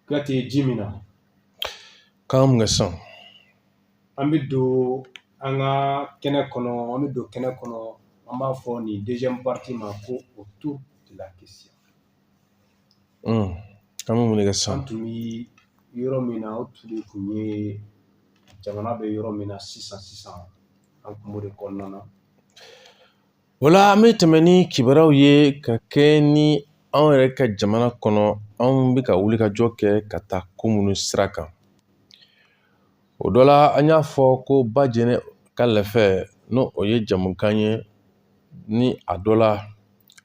Ka tɛ ji min na k'an mun kɛ san an bɛ don an ka kɛnɛ kɔnɔ an bɛ don kɛnɛ kɔnɔ an b'a fɔ nin deuxième partie ma ko autour de la question an bɛ mun kɛ san an tun bɛ yɔrɔ min na o tun de tun ye jamana bɛ yɔrɔ min na sisan sisan an tun b'o de kɔnɔna na Voilà an bɛ tɛmɛ ni kibaruyaw ye ka kɛɲɛ ni anw yɛrɛ ka jamana kɔnɔ anw bɛ ka wulikajɔ kɛ ka taa ko minnu sira kan o dɔ la an y'a fɔ ko ba jɛnɛ ka lɛfɛ n'o o ye jamukan ye ni a dɔ la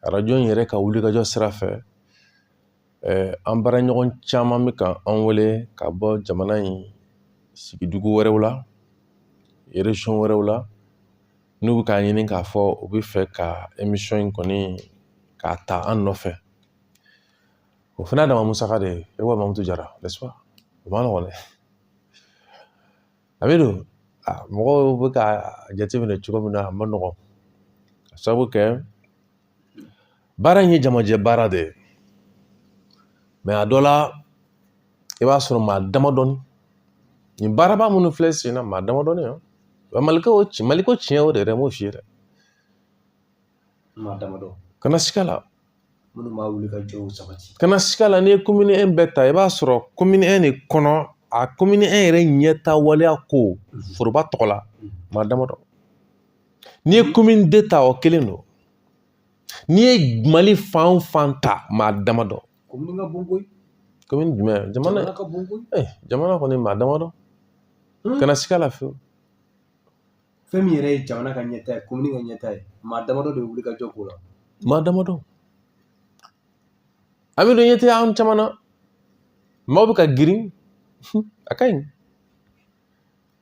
arajo in yɛrɛ ka wulikajɔ sira fɛ an baara ɲɔgɔn caman bɛ ka an wele ka bɔ jamana in sigidugu wɛrɛw la région wɛrɛw la n'u bɛ k'a ɲini k'a fɔ u bɛ fɛ ka émission in kɔni k'a ta an nɔfɛ o fana ye dama musaka de ye ayiwa mamutu jara n'est-ce pas o ma nɔgɔn dɛ amidu mɔgɔw bɛ ka jateminɛ cogo min na a ma nɔgɔn k'a sabu kɛ baara in ye jamajɛ baara de ye mɛ a dɔ la i b'a sɔrɔ maa damadɔni nin baaraba minnu filɛ sen na maa damadɔni wa maliko ci maliko tiɲɛ o de yɛrɛ m'o f'i ye dɛ Maa damadɔ kana siga la minnu b'a wulikajɔw sabati kana siga la n'i ye commune un bɛɛ ta i b'a sɔrɔ commune un de kɔnɔ a commune un yɛrɛ ɲɛta waleya ko foroba tɔgɔ la maa damadɔ n'i ye commune deux ta o kelen don n'i ye mali fan o fan ta maa damadɔ komini ka bon koyi komini jumɛn jamana ka bon koyi jamana kɔni maa damadɔ kana siga la fiyewu fɛn min yɛrɛ ye jamana ka ɲɛta ye komini ka ɲɛta ye maa damadɔ de bɛ wuli ka jɔ k'o la maa damadɔ amidu ɲɛ tɛ an caman na maaw bɛ ka girin a ka ɲi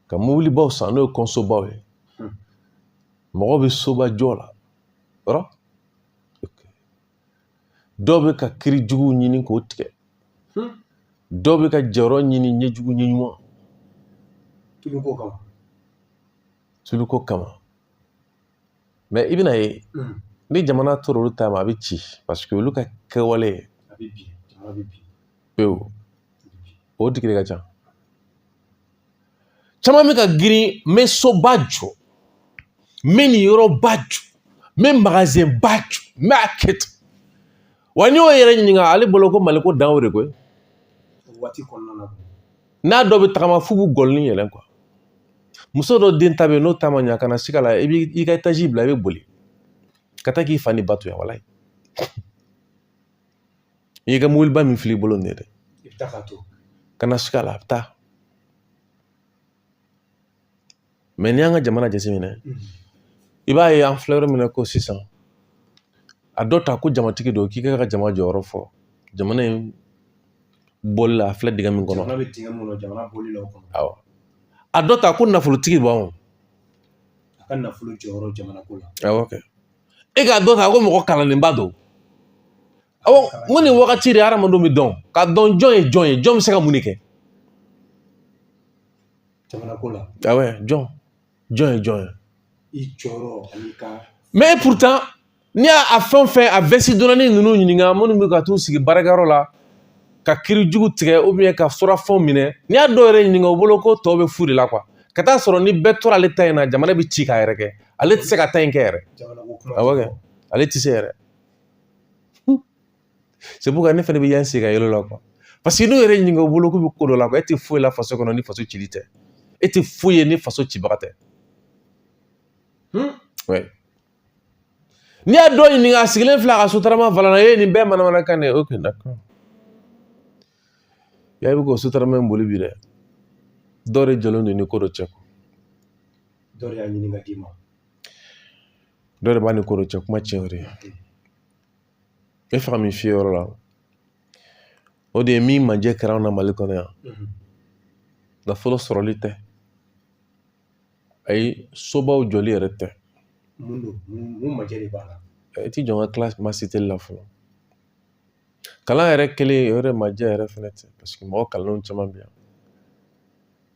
ka mobilibaw san n'o ye kɔnsobaw ye mɔgɔ bɛ soba jɔ la yɔrɔ dɔw bɛ ka kiri juguw ɲini k'o tigɛ hmm. dɔw bɛ ka jɔyɔrɔ ɲini ɲɛjugu ɲɛɲuman tuluko kama tuluko kama mɛ i bɛna ye hmm. ni jamana tora olu ta ma a bɛ ci paseke olu ka kɛwale pewu o tigi de ka ca caman bɛ ka girin n bɛ soba jɔ n bɛ nin yɔrɔba jɔ n bɛ magasin ba jɔ n b'a kɛ ten wa n'i y'o yɛrɛ ɲininka ale bolo ko maliko dan y'o de koyi waati kɔnɔna na n'a dɔ bɛ tagama f'u b'u gɔlɔni yɛlɛn quoi muso dɔ den ta bɛ yen n'o ta ma ɲa kana siga la i b'i ka etazi bila i bɛ boli ka taa k'i fa ni ba to yan walayi i y'i ka mobiliba min fili i bolo nin ye dɛ i bɛ taa ka to kana siga la a bɛ taa mais n'i y'an ka jamana jateminɛ i b'a ye an filɛ yɔrɔ min na ko sisan a dɔ ta ko jamatigi don k'i ka jama jɔyɔrɔ fɔ jamana in bɔli la a filɛ dingɛ min kɔnɔ awɔ a dɔ ta ko nafolotigiba don a ka nafolo jɔyɔrɔ jamana ko la awɔ kɛ e k'a dɔ ta ko mɔgɔ kalannenba don awɔ n ko nin wagati de hadamadenw bɛ dɔn ka dɔn jɔn ye jɔn ye jɔn bɛ se ka mun de kɛ jamanako la awɔ jɔn jɔn ye jɔn ye i jɔyɔrɔ ani ka mais pourtant n'i y'a a fɛn o fɛn a vɛsi donna ninnu ɲininka minnu bɛ ka t'u sigi baarakɛyɔrɔ la ka kiri jugu tigɛ ou bien ka surafɛnw minɛ n'i y'a dɔw yɛrɛ ɲininka u bolo ko tɔw bɛ fu de la quoi ka t'a sɔrɔ ni bɛɛ tora ale ta in na jamana bɛ ci k'a yɛrɛ kɛ ale tɛ se ka taa in kɛ yɛrɛ awɔ kɛ ale tɛ se yɛrɛ c'est pourquoi ne fana bɛ yan sigi ka yɛlɛ la paseke n'u yɛrɛ ɲininka u bolo k'u bɛ ko dɔ la e tɛ foyi la faso kɔnɔ ni faso cili tɛ e tɛ foyi ye ni faso cibaga tɛ n'i y'a dɔ ɲininka a sigilen filɛ a ka sotarama volant na e ye nin bɛɛ manamanakan de ye ok d'accord ya i bɛ k'o sotarama in boli bi dɛ dɔw de jɔlen don ni ko dɔ cɛ dɔ de y'a ɲini ka d'i ma dɔ de b'a ni ko dɔ cɛ kuma tiɲɛ o de e faga min fiyɛ yɔrɔ la o de ye min majɛ kɛra anw na mali kɔnɔ yan nafolo sɔrɔli tɛ ayi sobaw jɔli yɛrɛ tɛ mun don mun majɛ de b'a la i ti jɔn ka kila masiteli la fɔlɔ kalan yɛrɛ kelen o yɛrɛ majɛ yɛrɛ fɛnɛ tɛ paseke mɔgɔ kalanlenw caman bɛ yan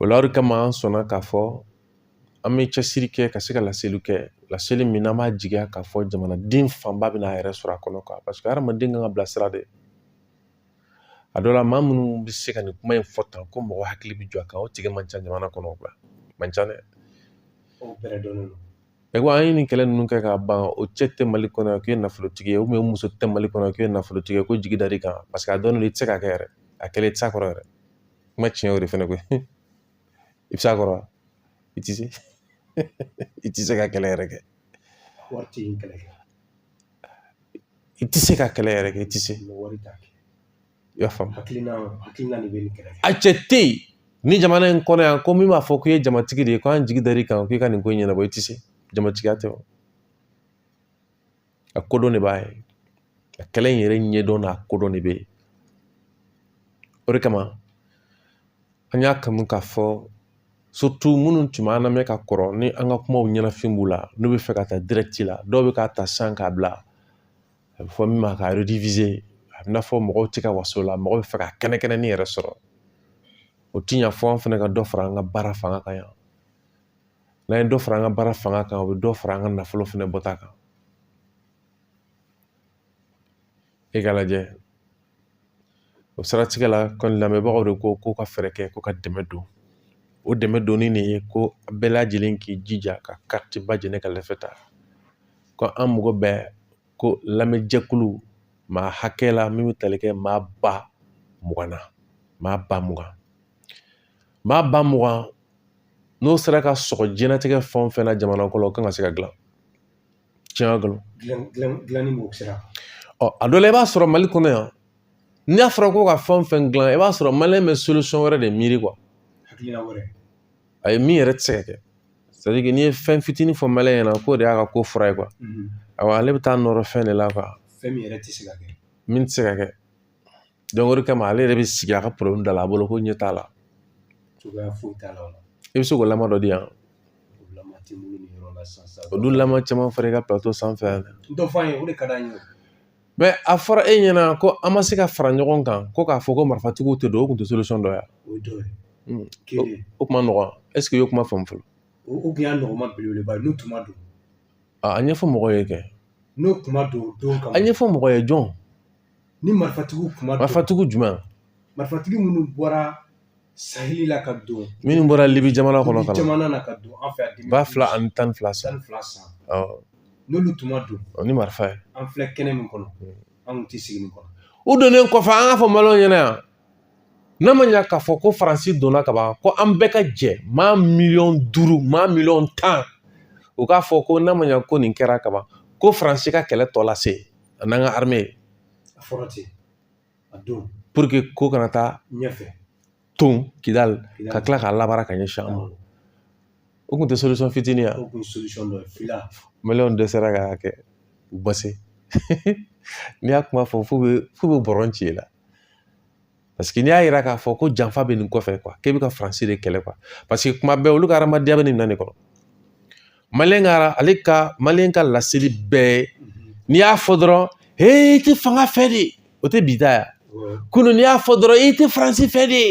O la o de kama an sɔnna k'a fɔ an bɛ cɛsiri kɛ ka se ka laseli kɛ laseli min n'an b'a jigiya k'a fɔ jamanaden fanba bɛna a yɛrɛ sɔrɔ a kɔnɔ quoi paseke hadamaden kan ka bilasira de a dɔ la maa minnu bɛ se ka nin kuma in fɔ tan ko mɔgɔ hakili bɛ jɔ a kan o tigi man ca jamana kɔnɔ man ca dɛ o yɛrɛ dɔnnen don E ko an ye nin kɛlɛ ninnu kɛ ka ban o cɛ tɛ mali kɔnɔ yan k'i ye nafolotigi ye muso tɛ mali kɔnɔ k'i ye nafolotigi ye ko jigi dal'i kan paseke a dɔnnen don i tɛ se k'a kɛ yɛrɛ a kɛlɛ i tɛ se a kɔrɔ yɛrɛ kuma tiɲɛ o de fɛnɛ koyi i bɛ se a kɔrɔ i tɛ se i tɛ se ka kɛlɛ yɛrɛ kɛ waati in kɛlɛ i tɛ se ka kɛlɛ yɛrɛ kɛ i tɛ se i y'a faamu a cɛ tɛ yen ni jamana in kɔnɔ yan ko min b'a fɔ k'i ye jamatigi de ye ko an jigi dal'i kan k'i ka nin ko in ɲɛnabɔ i tɛ se jamatigiya tɛ o a kodɔn de b'a ye a kɛlɛ in yɛrɛ ɲɛdɔn n'a kodɔn de bɛ yen o de kama an y'a kanu k'a fɔ surtout minnu tun b'an lamɛn ka kɔrɔ ni an ka kumaw ɲɛnafin b'u la n'u bɛ fɛ ka taa direct la dɔw bɛ k'a ta san k'a bila a bɛ fɔ min ma ka rediviser a bɛ i n'a fɔ mɔgɔw tɛ ka waso la mɔgɔ bɛ fɛ ka kɛnɛ kɛnɛ ni yɛrɛ sɔrɔ o ti ɲa fo an fana ka dɔ fara an ka baara fanga kan yan n'an ye dɔ fara an ka baara fanga kan o bɛ dɔ fara an ka nafolo fana bɔta kan e k'a lajɛ o siratigɛ la kɔni lamɛnbagaw de ko ko ka fɛɛrɛ kɛ ko ka dɛmɛ don o dɛmɛ donni de ye ko bɛɛ lajɛlen k'i jija ka carte ba jɛnɛ ka lɛfɛ ta ko an mago bɛ ko lamɛnjɛkulu maa hakɛ la min bɛ tali kɛ maa ba mugan na maa ba mugan maa ba mugan n'o sera ka sɔrɔ diɲɛnatigɛ fɛn o fɛn na jamana kɔnɔ o kan ka se ka dilan tiɲɛ kalo dilanni b'o sira ɔ a dɔ la i b'a sɔrɔ mali kɔnɔ yan n'a fɔra ko ka fɛn fɛn dilan i b'a sɔrɔ maliyɛn bɛ solution wɛrɛ de miiri kuwa a ye min yɛrɛ tɛ se ka kɛ sadike n'i ye fɛn fitinin fɔ maliyɛn ɲɛna k'o de y'a ka ko fura ye kuwa awa ale bɛ taa nɔrɔ fɛn de la kuwa fɛn min yɛrɛ tɛ se ka kɛ min tɛ se ka kɛ o de kama ale yɛrɛ bɛ sigi a ka problème da la a bolo ko ɲɛ t'a la cogoya foyi t'a la i bɛ se k'o lama dɔ di yan o dun lama caman fɔra i ka plateau sanfɛ yan dɔ fɔ an ye o de ka d'an ye mɛ a fɔra e ɲɛna ko an ma se ka fara ɲɔgɔn kan ko k'a fɔ ko marifatigiw tɛ don o tun tɛ solution dɔ ye o kuma nɔgɔn ɛseke i y'o kuma faamu fɔlɔ o tun y'a nɔgɔma belebeleba ye n'u tun ma don A ɲɛfɔ mɔgɔw ye kɛ n'u tun ma don don ka a ɲɛfɔ mɔgɔ ye jɔn ni marifatigiw tun ma don marifatigiw jumɛn marifatigi minnu bɔra saheli la ka don minnu bɔra libi jamana kɔnɔ ka jamana na ka don an fɛ yan ba fila ani tan ni fila san n'olu tun ma don ni marifa ye an filɛ kɛnɛ min kɔnɔ an tɛ sigi nin kɔnɔ u donnen kɔfɛ an k'a fɔ maliyɛnw ɲɛna yan n'a ma ɲa k'a fɔ ko faransi donna ka ban ko an bɛɛ ka jɛ maa miliyɔn duuru maa miliyɔn tan u k'a fɔ ko n'a ma ɲa ko nin kɛra ka ban ko faransi ka kɛlɛ tɔ lase a n'an ka arime a fɔra ten a don pour que ko kana taa ɲɛfɛ ton kidali ka tila k'a labara ka ɲɛsin an ma o tun tɛ solisɔn fitinin ya maliyɛnw dɛsɛra k'a kɛ u base n'i y'a kuma fɔ f'u bɛ f'u bɛ bɔrɔn ci i la Paseke n'i y'a yira k'a fɔ ko janfa bɛ nin kɔfɛ kuwa k'e bɛ ka faransi de kɛlɛ kuwa paseke kuma bɛɛ olu ka hadamadenya bɛ nin minɛn de kɔnɔ maliyɛn kuwa ale ka maliyɛn ka laseli bɛɛ ye n'i y'a fɔ dɔrɔn he i tɛ fanga fɛ de o tɛ bi ta ya kunun n'i y'a fɔ dɔrɔn i tɛ faransi fɛ de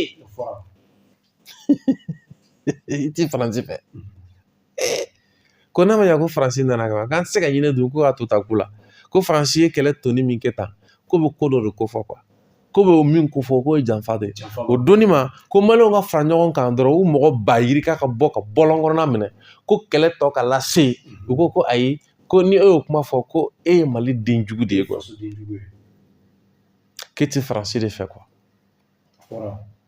i ti faransi fɛ ko n'a ma ɲa ko faransi nana ka ban k'an tɛ se ka ɲinɛ don ko ka to ta ko la ko faransi ye kɛlɛ tɔni min kɛ tan k'o bɛ ko dɔ de kofɔ quoi k'o bɛ o min kofɔ k'o ye janfa de ye o donni ma ko maliyɛnw ka fara ɲɔgɔn kan dɔrɔn u mɔgɔ ba yirika ka bɔ ka bɔlɔn kɔnɔna minɛ ko kɛlɛ tɔ ka lase u ko ko ayi ko ni e y'o kuma fɔ ko e ye mali den jugu de ye quoi k'e ti faransi de fɛ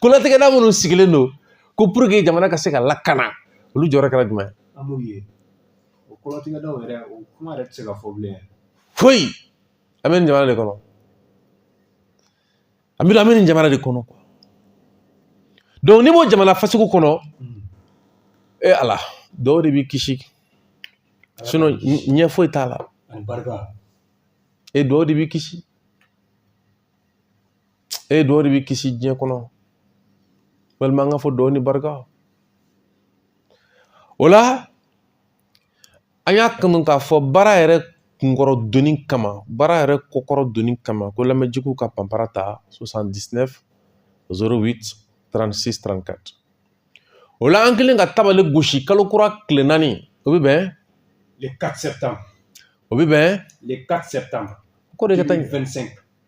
kolatigɛda minnu sigilen don ko pour que jamana ka se ka lakana olu jɔyɔrɔ kɛra jumɛn ye an m'u ye o kolatigɛdaw yɛrɛ o kuma yɛrɛ tɛ se ka fɔ bilen foyi an bɛ nin jamana de kɔnɔ an bɛ an bɛ nin jamana de kɔnɔ donc n'i b'o jamana fasugu kɔnɔ hmm. e eh, ala duwaw de b'i kisi sinon ɲɛ foyi t'a la e eh, duwaw de b'i kisi e duwaw de b'i kisi diɲɛ kɔnɔ walima an k'a fɔ duwaw ni barika o la an y'a kanu k'a fɔ baara yɛrɛ kunkɔrɔ donni kama baara yɛrɛ kɔkɔrɔ donni kama ko lamɛnjɛkulu ka panpara ta 79 08 36 34 o la an kɛlen ka tabale gosi kalo kura tile naani o bɛ bɛn le 4 septembre o bɛ bɛn le 4 septembre ko de ka taa 25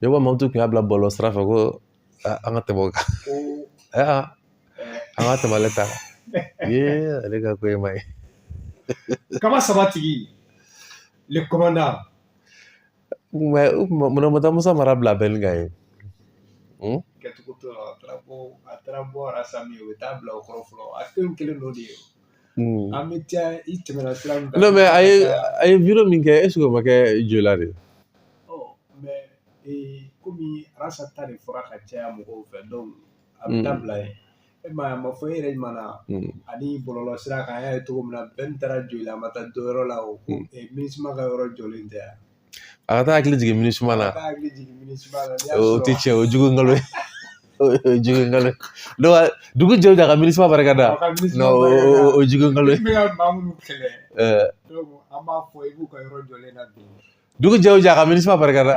ne ko mamutu kun y'a bila bɔlɔlɔ sira fɛ ko an ka tɛmɛ o kan an ka tɛmɛ ale ta kan ye ale ka ko ye ma ye kaba saba tigi le commandant mais u kun ma munna ma taa musa mara bila bɛn kan ye kɛcogo t'o la a taara bɔ a taara bɔ a sami o bɛ taa bila o kɔrɔ fɔlɔ a fɛn kelen dɔ de ye Mm. An bɛ taa i tɛmɛna sira min kan. Non mais a ye a ye video min kɛ est ce que o ma kɛ Joyila de ye? Ɔ mais ee komi Arasa ta de fɔra ka caya mɔgɔw fɛ donc a bɛ taa bila yen. E m'a ye a ma fɔ e yɛrɛ ɲuman ani bɔlɔlɔ sira kan an y'a ye cogo min na Bɛn taara Joyila a ma taa dɔ yɔrɔ la o ko Minusma ka yɔrɔ jɔlen tɛ yan. a ka taa hakili jigin minusma la o tɛ tiɲɛ o jugu nkalon ye jugu nkalon ye dugu jɛ o jɛ a ka minusma barika da o jugu nkalon ye dugu jɛ o jɛ a ka minusma barika da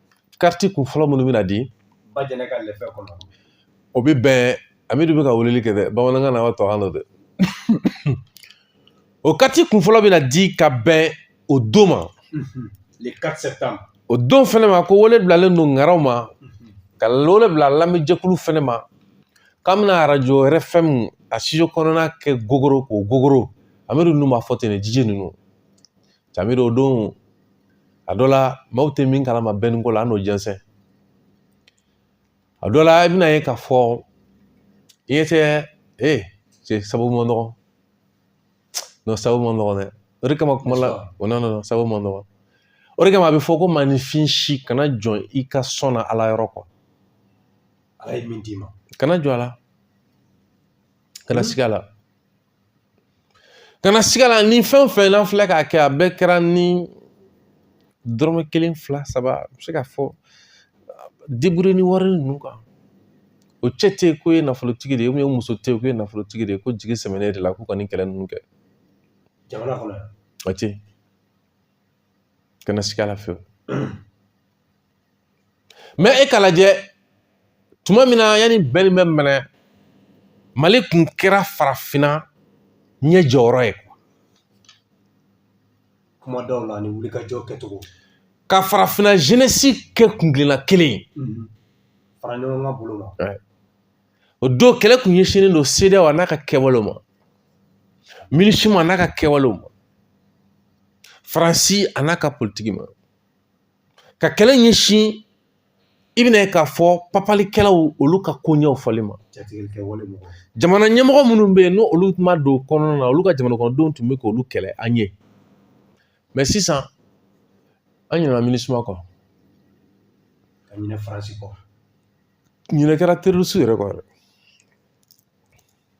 kariti kun fɔlɔ minnu bɛna di bajɛnɛ ka lɛfɛ kɔnɔ o bɛ bɛn amidu bɛ ka weleli kɛ dɛ bamanankan na wa tɔkan don dɛ o kariti kun fɔlɔ bɛna di ka bɛn o don ma le 4 septembre o don fɛnɛ ma ko wele bilalen don ŋaraw ma ka wele bila lamɛnjɛkulu fɛnɛ ma k'an bɛna arajo RFM a studio kɔnɔna kɛ gogoro k'o gogoro amidu ninnu b'a fɔ ten ne DJ ninnu Amidu o don a dɔ la maaw tɛ min kalama bɛni ko la an n'o jɛnsɛn a dɔ la i bɛna ye k'a fɔ i ye tɛ e cɛ sababu man nɔgɔn nɔ sababu man nɔgɔn dɛ o de kama kuma la o na nɔ sababu man nɔgɔn o de kama a bɛ fɔ ko maaninfin si kana jɔ i ka sɔn na ala yɔrɔ kɔ ala ye min d'i ma kana jɔ a la kana siga a la Kana siga a la ni fɛn o fɛn n'an filɛ k'a kɛ a bɛɛ kɛra ni dɔrɔmɛ kelen fila saba a bɛ se k'a fɔ débrouiller ni wari ninnu kan o cɛ tɛ yen k'o ye nafolotigi de ye o muso tɛ yen k'o ye nafolotigi de ye ko jigi sɛmɛnen de la k'u ka nin kɛlɛ ninnu kɛ jamana kɔnɔ yan o tɛ yen kana siga a la fiyewu mɛ e k'a lajɛ tuma min na yanni bɛni bɛ minɛ mali kun kɛra farafinna ɲɛjɔyɔrɔ ye kuma dɔw la ani wulikajɔ kɛcogo ka farafinna jenesi kɛ kunkelenna kelen ye mhm. fara ɲɔgɔn kan bolo ma o don kɛlɛ kun ɲɛsinnen don sedeyawo a n'a ka kɛwalew ma minisuma a n'a ka kɛwalew ma faransi a n'a ka politiki ma ka kɛlɛ ɲɛsin i bɛna ye k'a fɔ papalikɛlaw olu ka koɲɛw fɔli ma jamana ɲɛmɔgɔ minnu bɛ yen ni olu ma don kɔnɔnana olu ka jamanakɔnɔdenw tun bɛ k'olu kɛlɛ an ye mɛ sisan an ɲinɛna minisuma kɔ ka ɲinɛ faransi kɔ ɲinɛ kɛra terorisi yɛrɛ kɔ yɛrɛ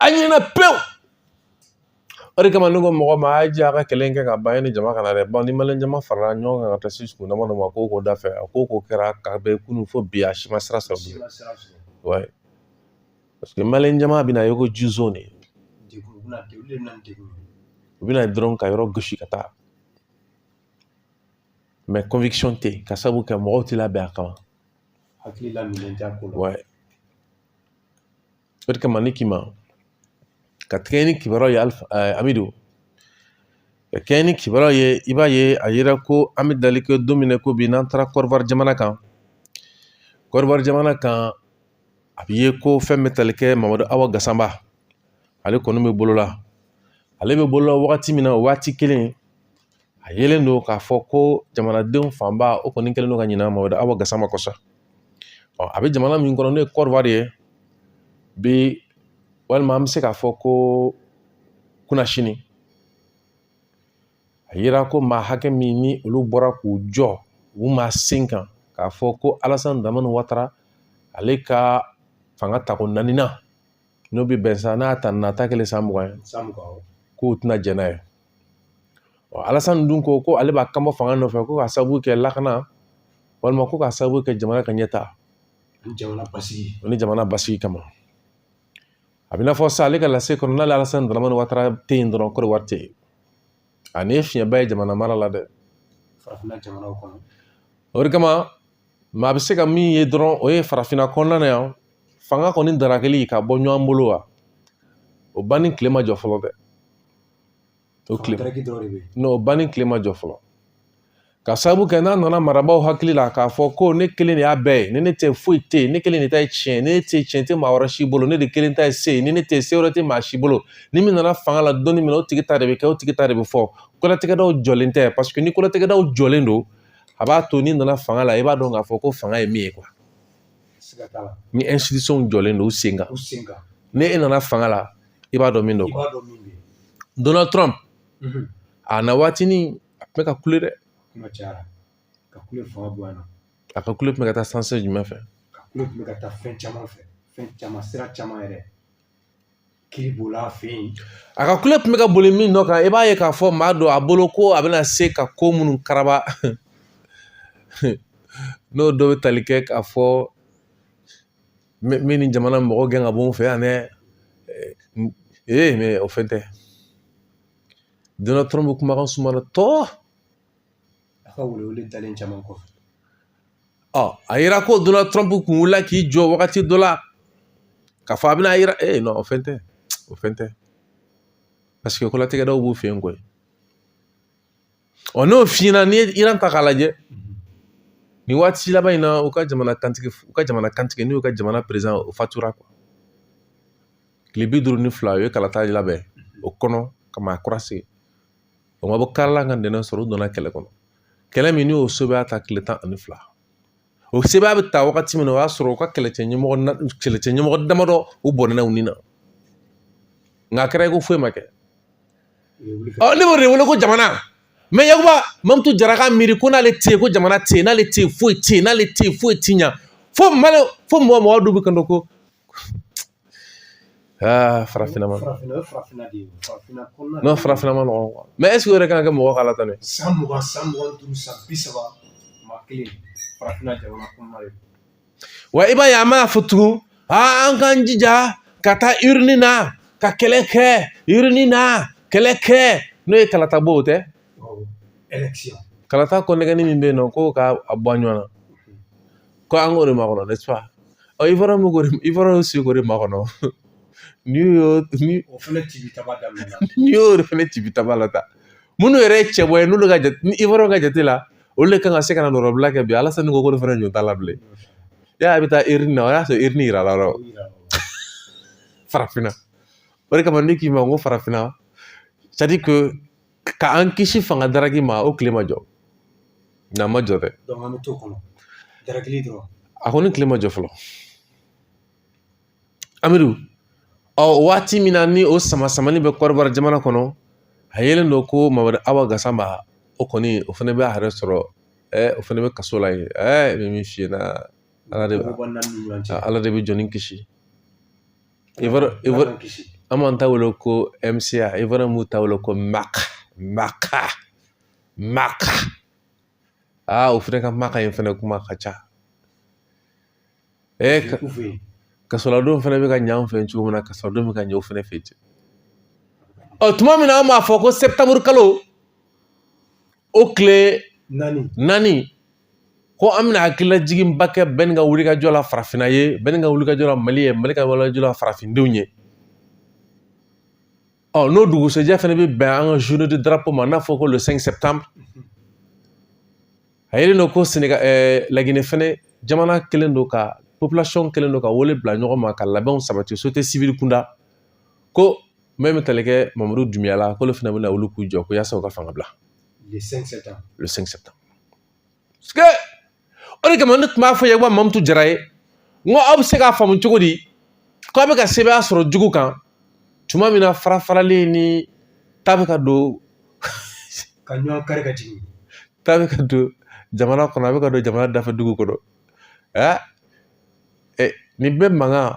a ɲinɛna pewu o de kama ne ko mɔgɔ ma a y'a jija ka kɛlɛ kɛ ka ban yanni jama ka na dɛ bawo ni maliyɛn jama farala ɲɔgɔn kan ka taa se sugu dama dɔ ma ko ko da fɛ a ko ko kɛra ka bɛn kunun fo bi a si ma sira sɔrɔ bilen wayi parce que maliyɛn jama bɛna ye ko jizo de u bɛ na dɔrɔn ka yɔrɔ gosi ka taa mɛ conviction tɛ yen k'a sabu kɛ mɔgɔw tɛ labɛn a kama hakili la minɛn t'a ko la wayi O de kama ne k'i ma ka kɛɲɛ ni kibaruyaw ye amidu ka kɛɲɛ ni kibaruyaw ye i b'a ye a yira ko an bɛ dali kɛ don min na ko bi n'an taara kɔdiwari jamana kan kɔdiwari jamana kan a bɛ ye ko fɛn bɛ tali kɛ mamadu awa gasama ale kɔni bɛ bolola ale bɛ bolola wagati min na o waati kelen a yelen don k'a fɔ ko jamanadenw fanba o kɔni kɛlen don ka ɲinɛ mamadu awa gasama kɔ sa a bɛ jamana min kɔnɔ n'o ye kɔdiwari ye bi walima an bɛ se k'a fɔ ko kunasini a yira ko maa hakɛ min ni olu bɔra k'u jɔ u ma sen kan k'a fɔ ko alasani daramani watara ale ka fanga tako naaninan n'o bɛ bɛn san n'a ta nata kelen san mugan ye k'u tɛna jɛn n'a ye alasan dun ko ko ale b'a kanbɔ fanga nɔfɛ ko ka sababu kɛ lakana walima ko ka sababu kɛ jamana ka ɲɛtaa ni jamana basigi ni jamana basigi kama a bɛ n'a fɔ sa ale ka lase kɔnɔ n'ale alasan dramani watara tɛ yen dɔrɔn kɔdiwari tɛ yen a nin ye fiɲɛba ye jamana mara la dɛ farafinna jamanaw kɔnɔ o de kama maa bɛ se ka min ye dɔrɔn o ye farafinna kɔnɔna na yan fanga kɔni darakɛli ka bɔ ɲɔgɔn bolo wa o banni tile ma jɔ fɔlɔ dɛ o tile n'o banni tile ma jɔ fɔlɔ ka sababu kɛ n'a nana marabaaw hakili la k'a fɔ ko ne kelen de y'a bɛɛ ye ni ne tɛ foyi tɛ yen ne kelen de ta ye tiɲɛ ni ne tɛ tiɲɛ tɛ maa wɛrɛ si bolo ne de kelen ta ye se ye ni ne tɛ se wɛrɛ tɛ maa si bolo ni min nana fanga la don min na o tigi ta de bɛ kɛ o tigi ta de bɛ fɔ kolatigɛdaw jɔlen tɛ paseke ni kolatigɛdaw jɔlen don a b'a to n'i nana fanga la i b'a dɔn k'a fɔ ko fanga ye min ye kuwa ni ɛnsitisɔnw jɔlen don u sen kan ni e nana fanga la i b'a dɔn min don quoi donald trump mhm. a na waatinin a tun bɛ ka kule dɛ a ka kule tun bɛ ka taa sanse jumɛn fɛ ka kule tun bɛ ka taa fɛn caman fɛ fɛn caman sira caman yɛrɛ kiri b'olu fɛ yen a ka kule tun bɛ ka boli min nɔ kan i b'a ye k'a fɔ maa don a bolo ko a bɛna se ka ko minnu karaba n'o dɔ bɛ tali kɛ k'a fɔ min ni jamana mɔgɔ gɛn ka bɔ n fɛ yan dɛ ee mɛ o fɛn tɛ donald trump kumakan sumana tɔ a ka welewele dalen caman kɔfɛ ɔ a yira ko donald trump kun wulila k'i jɔ wagati dɔ la k'a fɔ a bɛna yira ee nɔ o fɛn tɛ o fɛn tɛ paseke kolatigɛdaw b'u fɛ yen koyi Ɔ n'o fiɲɛna n'i ye Iran ta k'a lajɛ nin waati laban in na u ka jamana kantigi u ka jamana kantigi n'u ka jamana perezan o fatura quoi tile bi duuru ni fila u ye kalata labɛn o kɔnɔ ka maa kura sigi o ma bɔ kari la ka ntɛnɛn sɔrɔ u donna kɛlɛ kɔnɔ kɛlɛ min n'o sɛbɛ y'a ta tile tan ani fila o sɛbɛya bɛ ta wagati min na o y'a sɔrɔ u ka kɛlɛcɛ ɲɛmɔgɔ na kɛlɛcɛ ɲɛmɔgɔ damadɔ u bɔnɛna u ni na nka a kɛra i ko foyi ma kɛ ɔ ne b'o de wele ko jamana mɛ yakuba mamutu jara ka miiri ko n'ale tɛ yen ko jamana tɛ yen n'ale tɛ yen foyi tɛ yen n'ale tɛ yen foyi tɛ ɲa fo mali fo mɔgɔ mɔgɔ dɔw bɛ k'a dɔn ko Aa farafinna ma n'o farafinna ma nɔgɔn mɛ ɛseke o yɛrɛ kan ka kɛ mɔgɔ ka latɛmɛ san mugan san mugan duuru san bi saba maa kelen farafinna jamana kɔnɔna de wa i b'a ye an b'a fɔ tugun aa an k'an jija ka taa urne na ka kɛlɛ kɛ urne na kɛlɛ kɛ n'o ye kalata bɔ o tɛ kalata ko nɛgɛnni min bɛ yen nɔ ko ka a bɔ a ɲɔgɔn na ko an k'o de makɔnɔ n'est-ce pas ivoire ko ivoire sigi k'o de makɔnɔ n'i y'o ni o fana ci bi taba daminɛ n'i y'o de fana ci bi taba la ta minnu yɛrɛ ye cɛbɔ ye n'olu ka jate ni ivoire ka jate la olu de kan ka se ka na nɔrɔbila kɛ bi alassane ko ko ne fana ɲɔ t'a la bilen y'a a bɛ taa urne na o y'a sɔrɔ urne yira la yɔrɔ farafinna o de kama ne k'i ma ko farafinna c'est à dire que ka an kisi fanga daraki ma o tile ma jɔ n'a ma jɔ dɛ an bɛ to kɔnɔ darakili dɔrɔn a kɔni tile ma jɔ fɔlɔ amidu ɔ waati min na ni o sama samani bɛ côte d'ivoire jamana kɔnɔ a yelen don ko mamadu awa gasama o kɔni o fana bɛ a yɛrɛ sɔrɔ o fana bɛ kaso la yen n bɛ min f'i ɲɛna ala de bɛ ala de bɛ jɔnnin kisi an b'an ta wele ko mca ivoire m'u ta wele ko maka maka maka aa o fɛnɛ ka maka in fɛnɛ kuma ka ca ee kasoladon fɛnɛ bɛ ka ɲɛ an fɛ cogo min na kasoladon bɛ ka ɲɛ o fɛnɛ fɛ ten ɔ tuma min na an b'a fɔ ko septembre kalo o tile naani ko an bɛna hakililajiginba kɛ bɛni ka wulikajɔ la farafinna ye bɛni ka wulikajɔ la mali ye mali ka wulikajɔ la farafindenw ye ɔ n'o dugusɛjɛ fana bɛ bɛn an ka journée de drapeau ma n'a fɔ ko le 5 septembre a yelen don ko senegal ɛɛ laginɛ fɛnɛ jamana kɛlen don ka population kɛlen don ka wele bila ɲɔgɔn ma ka labɛnw sabati société civile kunda ko min bɛ tali kɛ mamadu dunbuya la k'olu fana bɛna wuli k'u jɔ ko yaasa u ka fanga bila le 5 septembre le 5 septembre parce que o de kama ne tun b'a fɔ yakuba mamutu jara ye n ko aw bɛ se k'a faamu cogo di k'a bɛ ka sebaaya sɔrɔ jugu kan tuma min na farafaralen ni ta bɛ ka don ka ɲɔgɔn kari ka jigin ta bɛ ka don jamana kɔnɔ a bɛ ka don jamana dafɛ dugu kɔnɔ ɛ nin bɛɛ mankan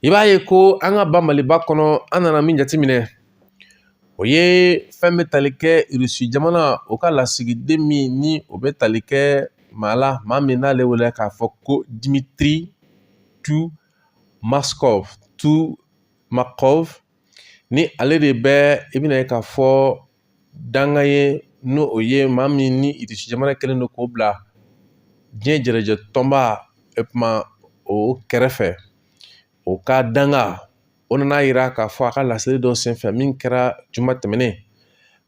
i b'a ye ko an ka ba maliba kɔnɔ an nana min jateminɛ o ye fɛn bɛ tali kɛ irisi jamana o ka lasigiden min ni o bɛ tali kɛ maa la maa min n'ale wele k'a fɔ ko dimitri tumaskov tumakov ni ale de bɛ i bɛna ye k'a fɔ dankan ye n'o o ye maa min ni irisi jamana kɛlen don k'o bila diɲɛ jɛrɛjɛ tɔnba e kuma o kɛrɛfɛ o ka dankan o nana yira k'a fɔ a ka laseli dɔ senfɛ min kɛra juma tɛmɛnen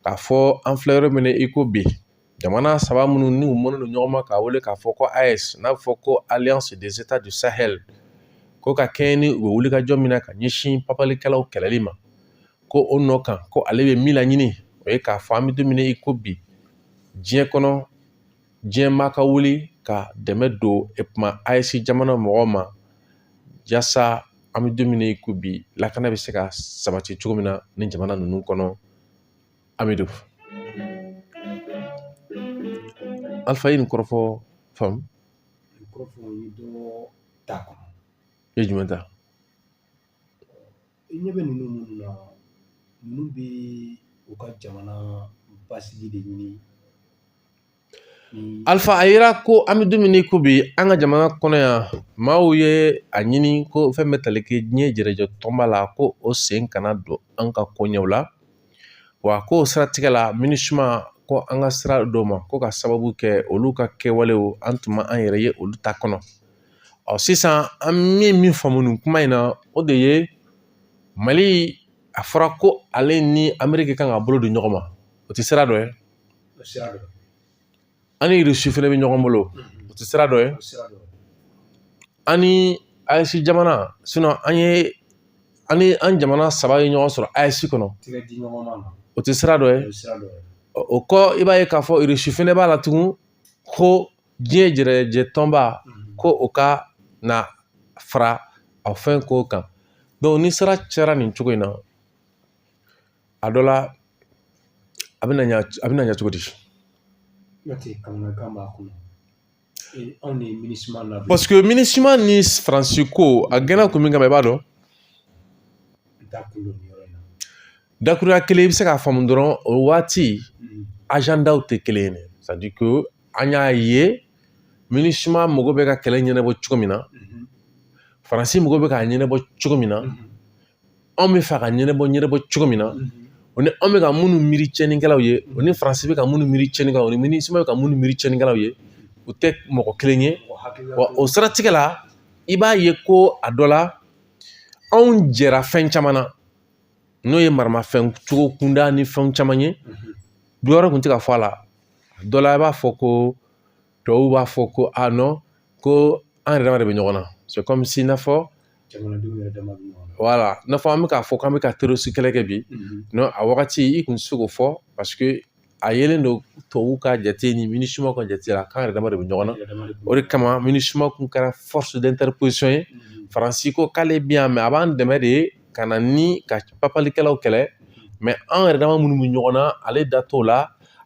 k'a fɔ an filɛ yɔrɔ min na i ko bi jamana saba minnu n'u mɔnnen don ɲɔgɔn ma k'a wele k'a fɔ ko aes n'a bɛ fɔ ko alliance des états du sahel ko ka kɛɲɛ ni u bɛ wulikajɔ min na ka ɲɛsin papalikɛlaw kɛlɛli ma ko o nɔ kan ko ale bɛ min laɲini o ye k'a fɔ an bɛ don min na i ko bi diɲɛ kɔnɔ diɲɛ maa ka wuli ka dɛmɛ don u ma ayisi jamana mɔgɔw ma yasa an bɛ don min na i ko bi lakana bɛ se ka sabati cogo min na ni jamana ninnu kɔnɔ amidu alifa ye nin kɔrɔfɔ faamu ta ye jumɛn ta i ɲɛ bɛ ninnu minnu na ninnu bɛ u ka jamana basigi de ɲini alifa a yira ko an bɛ don min i ko bi an ka jamana kɔnɔ yan maaw ye a ɲini ko fɛn bɛ tali kɛ diɲɛ jɛrɛjɛ tɔnba la ko o sen kana don an ka koɲɛw la wa ko o siratigɛ la minisuma ko an ka sira d'o ma ko ka sababu kɛ olu ka kɛwalew an tun ma an yɛrɛ ye olu ta kɔnɔ ɔ sisan an ye min faamu nin kuma in na o de ye mali a fɔra ko ale ni ameriki kan ka bolo di ɲɔgɔn ma o tɛ sira dɔ ye an ni irisi fɛnɛ bɛ ɲɔgɔn bolo o tɛ sira dɔ ye an ni ayisi jamana sinon an ye an ni an jamana saba ye ɲɔgɔn sɔrɔ ayisi kɔnɔ o tɛ sira dɔ ye o kɔ i b'a ye k'a fɔ irisi fɛnɛ b'a la tugun ko diɲɛ jɛrɛjɛ tɔnba ko o ka na fara a fɛn ko kan donc ni sira cayara nin cogo in na a dɔ la a bɛna ɲa a bɛna ɲɛ cogo di paseke minisuma ni faransi ko a gɛnna kun min kama i b'a dɔn Dakuruya kelen i bɛ se k'a faamu dɔrɔn o waati ajandaw tɛ kelen ye c'est-à-dire que an y'a ye minisuma mago bɛ ka kɛlɛ ɲɛnabɔ cogo min na faransi mago bɛ k'a ɲɛnabɔ cogo min na anw bɛ fɛ ka ɲɛnabɔ ɲɛnabɔ cogo min na o ni anw bɛ ka minnu miiri cɛnnikɛlaw ye o ni faransi bɛ ka minnu miiri cɛnnikɛlaw ni minisuma bɛ ka minnu miiri cɛnnikɛlaw ye u tɛ mɔgɔ kelen ye wa o siratigɛ la i b'a ye ko a dɔ la anw jɛra fɛn caman na n'o ye maramafɛn cogo kunda ni fɛn caman ye dɔ wɛrɛ kun tɛ ka fɔ a la dɔ la i b'a fɔ ko tubabuw b'a fɔ ko a non ko an yɛrɛ dama de bɛ ɲɔgɔn na c'est comme si n'a fɔ wala i n'a fɔ an bɛ k'a fɔ k'an bɛ ka terorisi kɛlɛ kɛ bi non a wagati i kun tɛ se k'o fɔ paseke a yelen don tubabuw ka jate ni minisuma ka jate la k'an yɛrɛ dama de bɛ ɲɔgɔn na o de kama minisuma kun kɛra force d'interposition ye faransi ko k'ale bɛ yan mɛ a b'an dɛmɛ de ka na ni ka papalikɛlaw kɛlɛ mɛ an yɛrɛ dama minnu bɛ ɲɔgɔn na ale da t'o la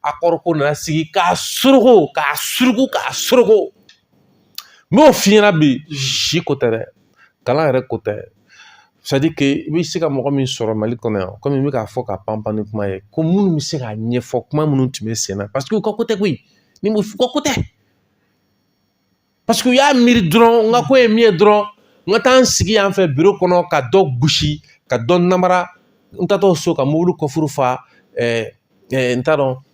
akɔri ko nana sigi k'a suruku k'a suruku k'a suruku n b'o f'i ɲɛna bi si ko tɛ dɛ kalan yɛrɛ ko tɛ i bɛ se ka mɔgɔ min sɔrɔ mali kɔnɔ yan komi n bɛ k'a fɔ ka panpan ni kuma ye ko minnu bɛ se k'a ɲɛfɔ kuma minnu tun bɛ sen na paseke u ka ko tɛ koyi ni u ka ko tɛ paseke u y'a miiri dɔrɔn n ka ko ye min ye dɔrɔn n ka taa n sigi yan fɛ biro kɔnɔ ka dɔ gosi ka dɔ namara n taatɔ so ka mobili kɔfuru fa n t'a dɔn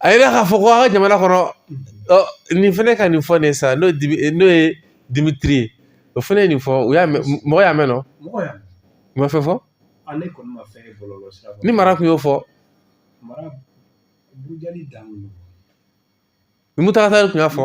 a yira k'a fɔ ko an ka jamana kɔnɔ nin fɛnɛ ka nin fɔ ne sa n'o ye dimitiri ye o fɛnɛ ye nin fɔ mɔgɔ y'a mɛn nɔ ma fɛn fɔ ni mara kun y'o fɔ ni muntaga tali kun y'a fɔ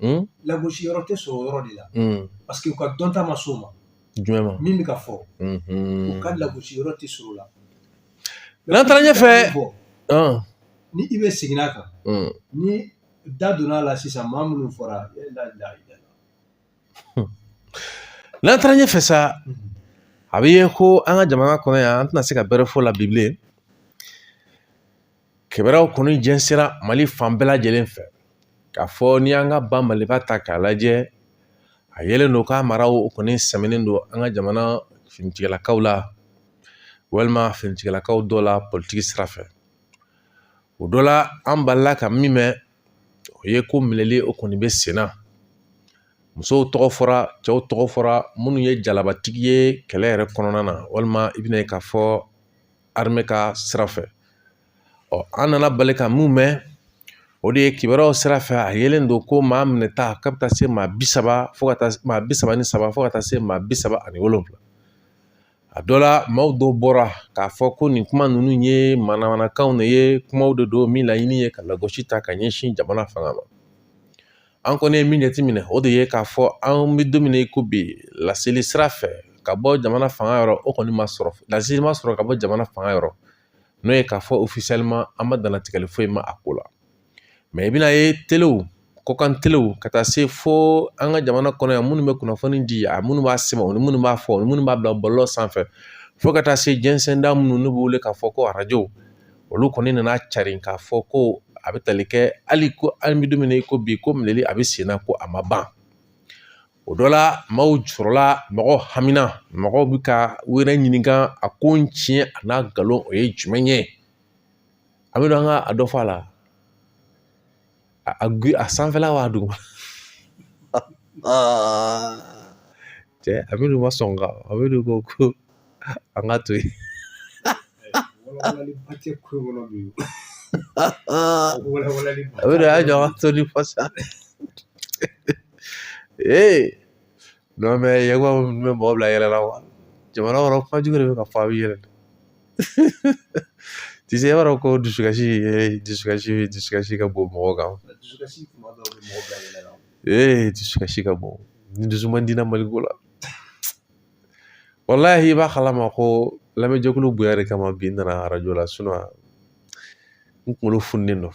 mm. lagosi yɔrɔ tɛ sɔrɔ o yɔrɔ de la mm. parce que u ka dɔnta ma s'o ma jumɛn ma min bɛ ka fɔ mm-hmm. u ka lagosi yɔrɔ tɛ sɔrɔ o la n'an taara ɲɛfɛ ni i bɛ segin a kan mm. ni da donna a la sisan maa minnu fɔra n'an taara ɲɛfɛ sa mm-hmm. a bɛ ye ko an ka jamana kɔnɔ yan an tɛna se ka bɛrɛ fɔ la bi bilen kibaruyaw kɔni jɛnsɛra mali fan bɛɛ lajɛlen fɛ k'a fɔ n'i y'an ka ba maliba ta k'a lajɛ a yelen don k'a maraw kɔni sɛmɛnen don an ka jamana finitigilakaw la walima finitigilakaw dɔ la politigi sira fɛ o dɔ la an balila ka min mɛn o ye ko minɛli o kɔni bɛ sen na musow tɔgɔ fɔra cɛw tɔgɔ fɔra minnu ye jalabatigi ye kɛlɛ yɛrɛ kɔnɔna na walima i bɛna ye k'a fɔ arime ka sira fɛ ɔ an nana bali ka min mɛn o de ye kibaruyaw sira fɛ a yelen don ko maa minɛta k'a bɛ taa se maa bi saba fo ka taa maa bi saba ni saba fo ka taa se maa bi saba ani wolonwula a dɔ la maaw dɔw bɔra k'a fɔ ko nin kuma ninnu ye manamanakanw de ye kumaw de don min laɲini ye ka lagosi ta ka ɲɛsin jamana fanga ma An kɔni ye min jateminɛ o de ye k'a fɔ an bɛ don min na i ko bi laseli sira fɛ ka bɔ jamana fanga yɔrɔ o kɔni ma sɔrɔ laseli ma sɔrɔ ka bɔ jamana fanga yɔrɔ n'o ye k'a fɔ officiellement an ma dantigɛli foyi mɛn a ko la mais i bɛna ye telew kɔkan telew ka taa se fo an ka jamana kɔnɔ yan minnu bɛ kunnafoni di a minnu b'a sɛbɛn o ni minnu b'a fɔ minnu b'a bila bɔlɔlɔ sanfɛ fo ka taa se jɛnsɛnda minnu n'u bɛ wele k'a fɔ ko arajo olu kɔni nana carin k'a fɔ ko a bɛ tali kɛ hali ko an bɛ don min na i ko bi ko minɛli a bɛ sen na ko a ma ban o dɔ la maaw jɔrɔla mɔgɔ hamina mɔgɔw bɛ ka u yɛrɛ ɲininka a ko in tiɲɛ a n'a nkalon o ye jumɛn ye an bɛ don an ka a dɔ fɔ a la a gu a sanfɛla wa duguma cɛ a bɛ n'u ma sɔn ka a bɛ n'u ko ko an ka to yen a bɛ y'a jɔ an ka to ni fasa ee non mais yɛrɛ ko n bɛ mɔgɔ bila yɛlɛ la wa jamana kɔnɔ kuma jugu de bɛ ka fɔ a bɛ yɛlɛ tu sais i b'a dɔn ko dusukasi dusukasi dusukasi ka bon mɔgɔ kan dusukasi kuma dɔw bɛ mɔgɔ bila yɛlɛ la ee dusukasi ka bon ne dusu man di na mali ko la walahi i b'a kalama ko lamɛnjɛkulu bonya de kama bi n nana arajo la sinon n kunkolo fununen don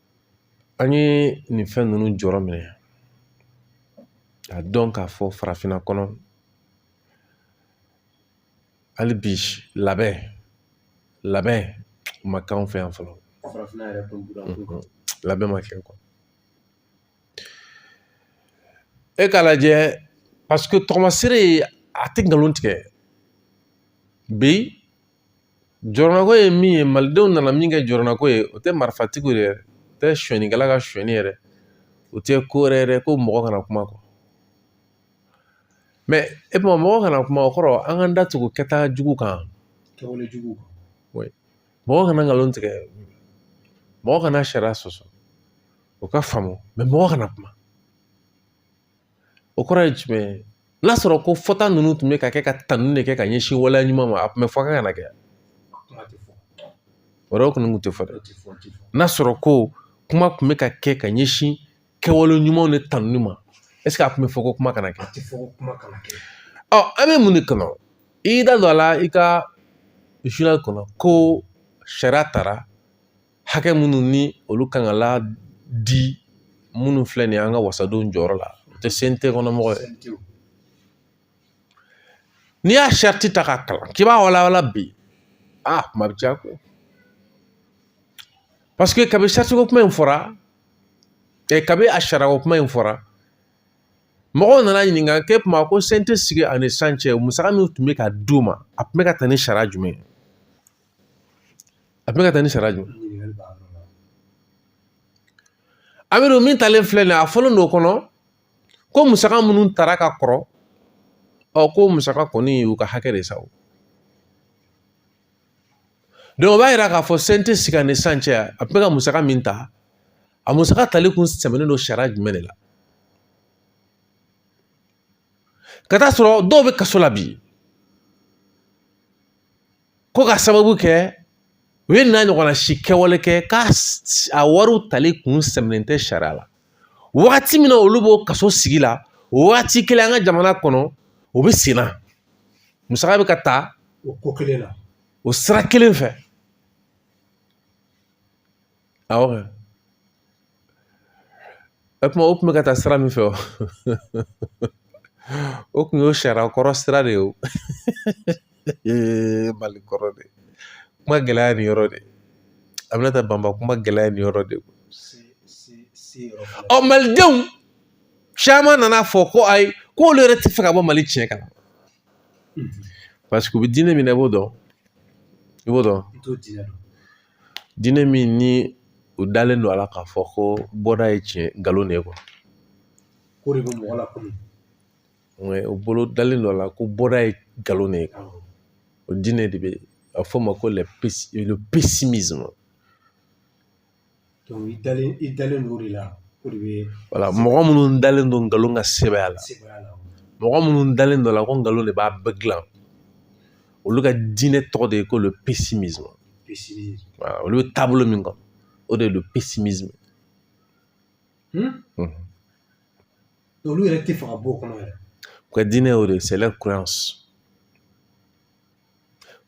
an ye nin fɛn ninnu jɔrɔ minɛ a dɔn k'a fɔ farafinna kɔnɔ hali bi labɛn labɛn ma k'anw fɛ yan fɔlɔ labɛn ma kɛ quoi e k'a lajɛ parce que tɔgɔmasere a tɛ nkalon tigɛ bi jɔrɔnako ye min ye malidenw nana min kɛ jɔrɔnako ye o tɛ marifatigiw ye dɛ o tɛ sonyɛnikɛla ka sonyɛni ye dɛ o tɛ ko wɛrɛ ye dɛ ko mɔgɔ kana kuma quoi mais mɔgɔ kana kuma o kɔrɔ an k'an da tugu kɛta jugu kan kɛwale jugu kan mɔgɔ kana nkalon tigɛ mɔgɔ kana sariya sɔsɔ o ka faamu mais mɔgɔ kana kuma o kɔrɔ ye jumɛn ye n'a sɔrɔ ko fɔta ninnu tun bɛ ka kɛ ka tanuni de kɛ ka ɲɛsin waleya ɲuman ma a tun bɛ fɔ k'a kana kɛ o yɔrɔ kɔni tun tɛ fɔ dɛ n'a sɔrɔ ko kuma tun bɛ ka kɛ ka ɲɛsin kɛwale ɲumanw de tanuni ma a tun bɛ fɔ ko kuma kana kɛ ɔ an bɛ mun de kɔnɔ i da don a la i ka journal kɔnɔ ko sariya taara hakɛ minnu ni olu kan ka la di minnu filɛ nin ye an ka wasadenw jɔyɔrɔ la o tɛ CNT kɔnɔmɔgɔ ye n'i y'a sariti ta k'a kalan k'i b'a walawala bi a kuma bɛ caya ko parce que kabi saritiko kuma in fɔra ɛ kabi a sarako kuma in fɔra mɔgɔw nana ɲininka k'e kuma ko CNT sigi ani sisan cɛ musaka min tun bɛ ka d'u ma a tun bɛ ka taa ni sariya jumɛn ye a tun bɛ ka taa ni sariya jumɛn amiru min talen filɛ nin ye a fɔlen don o kɔnɔ ko musaka minnu tara ka kɔrɔ ɔ ko musaka kɔni y'u ka hakɛ de sa o donc o b'a yira k'a fɔ CNT sigi ni sisan cɛ a tun bɛ ka musaka min ta a musaka tali kun sɛmɛnen don sariya jumɛn de la ka taa sɔrɔ dɔw bɛ kaso la bi ko ka sababu kɛ u ye nin ɲɔgɔnna si kɛwale kɛ k'a wariw tali kun sɛmɛnen tɛ sariya la wagati min na olu b'o kaso sigi la o wagati kelen an ka jamana kɔnɔ o bɛ sen na musaka bɛ ka ta o ko kelen na o sira kelen fɛ Awɔ kɛ. O kuma o kun bɛ ka taa sira min fɛ o o kun ye sariya kɔrɔ sira de ye o mali kɔrɔ de kuma gɛlɛya ye nin yɔrɔ de ye Aminata Banba kuma gɛlɛya ye nin yɔrɔ de ye ɔ malidenw caman nana a fɔ ko ayi k'olu yɛrɛ tɛ fɛ ka bɔ mali tiɲɛ kan paseke u bɛ diinɛ min na i b'o dɔn i b'o dɔn diinɛ min ni u dalen don a la k'a fɔ ko bɔda ye tiɲɛ nkalon de ye quoi u bolo dalen don a la ko bɔda ye nkalon de ye o diinɛ de bɛ a fɔ o ma ko le pessimisme i dalen don o de la voilà mɔgɔ minnu dalen don nkalon ka sebaaya la mɔgɔ minnu dalen don a la ko nkalon de b'a bɛɛ dilan olu ka diinɛ tɔgɔ de ye ko le pessimisme pessimisme voilà olu bɛ taabolo min kan o de ye le pessimisme hmm? Hmm. olu yɛrɛ tɛ fɛ ka bɔ o kɔnɔ yɛrɛ u ka diinɛ y'o de ye c'est leur croyance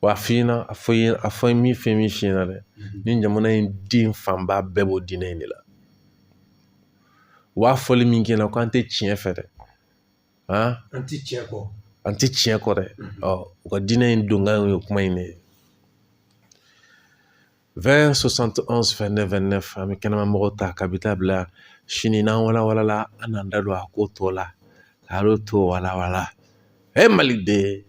wa a f'i ɲɛna a fɔ i a fɔ min fɛn min f'i ɲɛna dɛ mhm. nin jamana in den fanba bɛɛ b'o diinɛ in de la u b'a fɔli min k'i ɲɛna k'an tɛ tiɲɛ fɛ dɛ an ti tiɲɛ kɔ an ti tiɲɛ kɔ dɛ ɔ u ka diinɛ in donkan ye kuma in de ye 20 71 29 29 an bɛ kɛnɛma mɔgɔw ta ka bi ta bila sini n'an walawalala an n'an da don a ko tɔ la k'ale tɔ walawala e maliden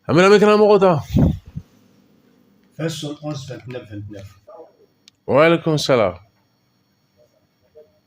an bɛ kɛnɛma mɔgɔw ta waaleykum salaam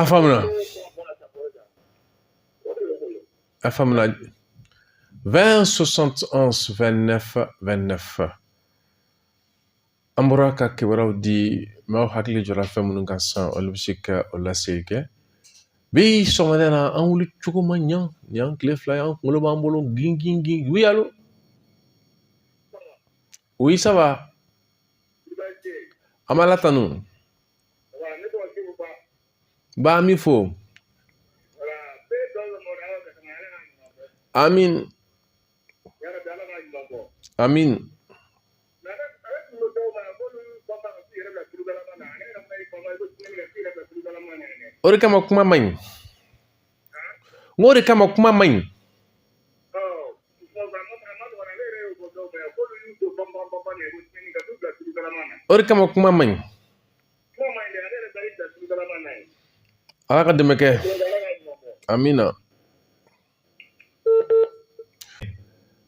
a faamuna a faamuna 20 71 29 29 an bɔra ka kibaruyaw di maaw hakili jɔra fɛn minnu kan sisan olu bɛ se ka o laseli kɛ bi sɔgɔmada na an wuli cogo ma ɲa nin y'an tile fila ye an kunkolo b'an bolo gin gin gin oui allô oui ça va an b'Ala tanu ba an b'i fo amin amin o de kama kuma man ɲi o de kama kuma man ɲi o de kama kuma man ɲi ala ka dɛmɛ kɛ amina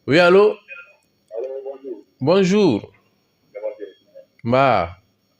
oui allô bonjour nba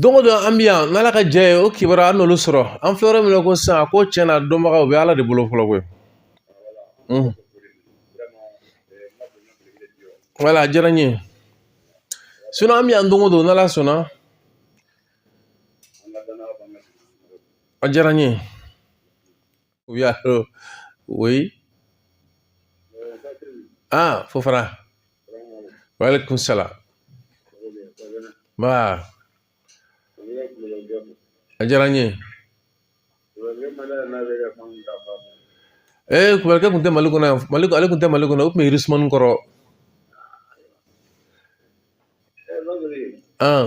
Don o don an bɛ yan n'ala ka jɛ ye o kibaruya an n'olu sɔrɔ an filɛ yɔrɔ min na ko sisan a ko tiɲɛna dɔnbagaw bɛ ala de bolo fɔlɔ koyi voilà a diyara n ye sinon an bɛ yan don o don n'ala sɔnna a diyara n ye oui allô oui ah Fofana waaleykum salaam nba a diyara n ye ee kubarikɛ tun tɛ mali kɔnɔ yan ale tun tɛ mali kɔnɔ o tun bɛ irisumani kɔrɔ an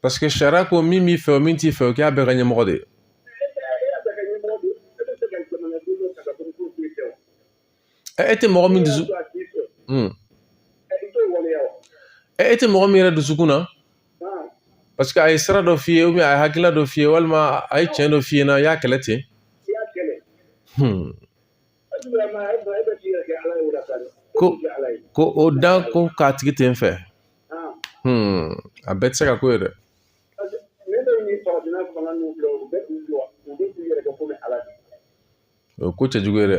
parce que sariya ko min b'i fɛ o min t'i fɛ o k'a bɛɛ ka ɲɛmɔgɔ de ye e tɛ mɔgɔ min dusu e tɛ mɔgɔ min yɛrɛ dusukun na parce que a ye sira dɔ f'i ye a ye hakilila dɔ f'i ye walima a ye tiɲɛ dɔ f'i ɲɛna i y'a kɛlɛ ten ko ko o da ko k'a tigi tɛ n fɛ a bɛɛ tɛ se ka k'o ye dɛ o ko cɛjugu ye dɛ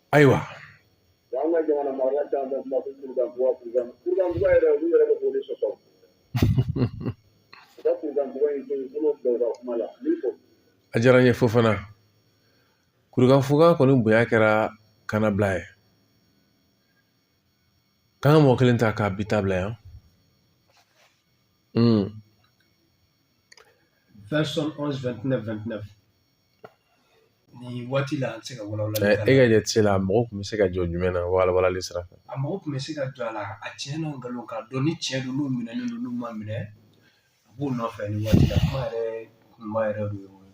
ayiwa a diyara n ye Fofana kurukanfuga kɔni bonya kɛra kanabila ye k'an ka mɔgɔ kelen ta k'a bi ta bila yan Version 11, 29, 29. nin waati la an tɛ se ka walawala e ka jate se la mɔgɔ tun bɛ se ka jɔ jumɛn na walawalali sira fɛ a mɔgɔ tun bɛ se ka jɔ a la a tiɲɛ n'a nkalon k'a dɔn ni tiɲɛ don n'u minɛlen don n'u ma minɛ a b'u nɔfɛ nin waati la kuma yɛrɛ kunba yɛrɛ de y'o ye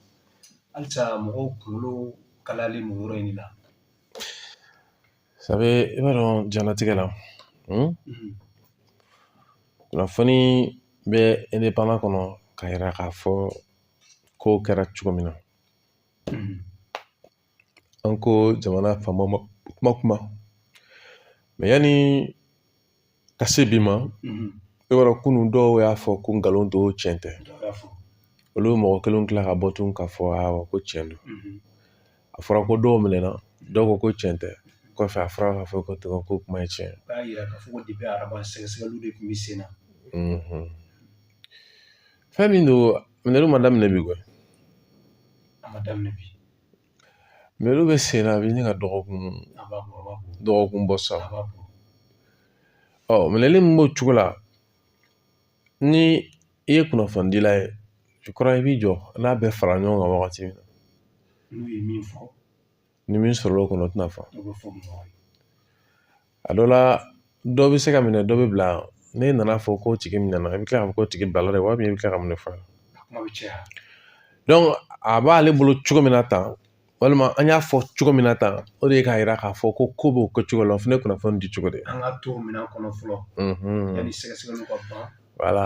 halisa mɔgɔw kunkolo kalayalen don yɔrɔ in de la sabu i b'a dɔn diɲɛlatigɛ la kunnafoni bɛ indépendant kɔnɔ ka yira k'a fɔ ko kɛra cogo min na an ko jamana faama ma kuma kuma mais yanni ka se bi ma i b'a dɔn kunun dɔw y'a fɔ ko nkalon don tiɲɛ tɛ olu mɔgɔ kelen tila ka bɔ tun k'a fɔ awɔ ko tiɲɛ don a fɔra ko dɔw minɛna dɔw ko ko tiɲɛ tɛ kɔfɛ a fɔra k'a fɔ ko kuma ye tiɲɛ b'a yira k'a fɔ ko depuis araba sɛgɛsɛgɛliw de tun bɛ sen na fɛn min don minɛliw ma daminɛ bi koyi a ma daminɛ bi minɛliw bɛ sen na a bɛ ɲini ka dɔgɔkun bɔ sa ɔ minɛli min b'o cogo la ni i ye kunnafonidila ye kura i b'i jɔ n'a bɛɛ fara ɲɔgɔn kan wagati min na n'u ye min fɔ ni min sɔrɔla o kɔnɔ o tɛna fɔ a dɔ la dɔ bɛ se ka minɛ dɔ bɛ bila n'i nana a fɔ ko tigi minɛna i bɛ kila k'a fɔ ko tigi bilala de wa i bɛ kila ka mun de fɔ donc a b'ale bolo cogo min na tan walima an y'a fɔ cogo min na tan o de ye k'a yira k'a fɔ ko ko b'o kɛ cogo la o fana ye kunnafoni di cogo de ye an ka to minɛli kɔnɔ fɔlɔ yanni sɛgɛsɛgɛliw ka ban wala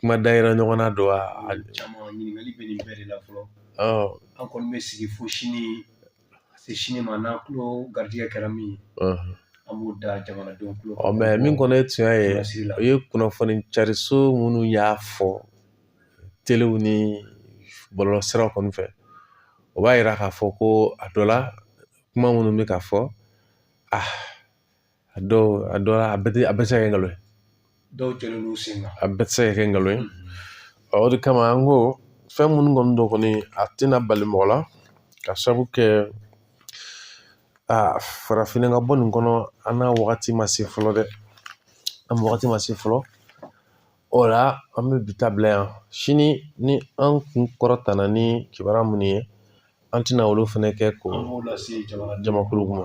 kuma da yira ɲɔgɔn na don wa caman ɲininkali bɛ nin bɛɛ de la fɔlɔ an kɔni bɛ sigi fo sani ka se sini ma n'an kulo garijɛgɛ kɛra min ye an b'o da jamanadenw kulo mais min kɔni ye tiɲɛ ye o ye kunnafoni cariso minnu y'a fɔ telew ni bɔlɔlɔ siraw kɔni fɛ o b'a yira k'a fɔ ko a dɔ la kuma minnu bɛ ka fɔ a a dɔw a dɔw la a bɛɛ tɛ a bɛɛ tɛ se ka kɛ nkalon ye dɔw jɔlen don sen kan a bɛɛ tɛ se ka kɛ nkalon ye o de kama an ko fɛn minnu kɔni don kɔni a tɛna bali mɔgɔ la ka sabu kɛ aa farafinna ka bɔ nin kɔnɔ an n'a wagati ma se fɔlɔ dɛ an wagati ma se fɔlɔ o la an bɛ bi ta bila yan sini ni an kun kɔrɔtala ni kibaruya minnu ye an tɛna olu fɛnɛ kɛ ko jamakulu ma